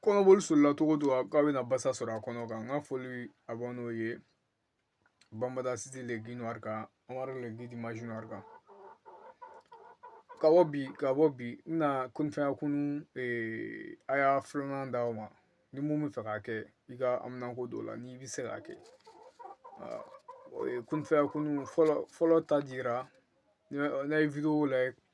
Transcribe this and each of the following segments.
kɔnɔboli solila cogo o cogo k'a bɛna basa sɔrɔ a kɔnɔ kan n ka foli a bɔ n'o ye banbada siti le ginuwari kan amadu le gidi mazinari kan ka bɔ bi ka bɔ bi n bɛna kun fayakun aya filanan d'aw ma ni mun b'i fɛ k'a kɛ i ka haminako dɔw la n'i bɛ se k'a kɛ o ye kun fayakun fɔlɔ fɔlɔ ta dira widewo la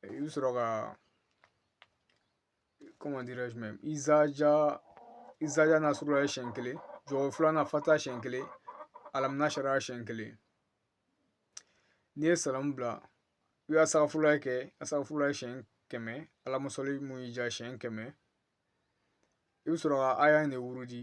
i bɛ sɔrɔ ka izaja nasurulahi siɲɛ kelen jɔ filanan fatiha siɲɛ kelen alamu nasara siɲɛ kelen n'i ye salamu bila i ka sitafurula kɛ asitafurula siɲɛ kɛmɛ alahuma sali mun y'i diya siɲɛ kɛmɛ i bɛ sɔrɔ ka aya nin wurudi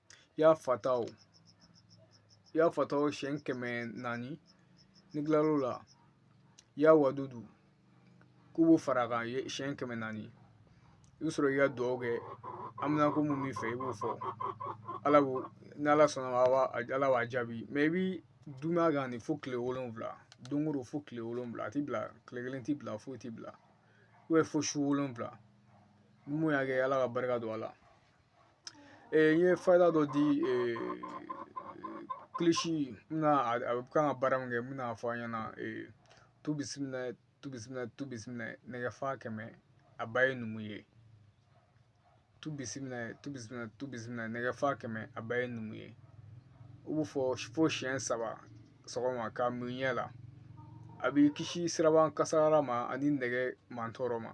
ya fatahu ya fatahu siyɛn kɛmɛ naani n'i kilal'o la ya wadudu i b'o fara a kan siyɛn kɛmɛ naani i bɛ sɔrɔ k'i ka dugawu kɛ haminako mun b'i fɛ i b'o fɔ ala ko ni ala sɔnna a b'a ala b'a jaabi i b'i duumɛ a kan de fo kile wolonwula don o don fo kile wolonwula a ti bila kile kelen ti bila foyi ti bila fo su wolonwula n'u y'a kɛ ala ka barika don a la n ye fayida dɔ di kilisi bɛ kan ka baara min kɛ n bɛna a fɔ aw ɲɛna tu bisimila tu bisimila tu bisimila nɛgɛ fa kɛmɛ a ba ye numu ye tu bisimila tu bisimila tu bisimila nɛgɛ fa kɛmɛ a ba ye numu ye i b'o fɔ fo siyɛn saba sɔgɔma k'a mun i ɲɛ la a b'i kisi sirabakan kasara ma ani nɛgɛ mantɔɔrɔ ma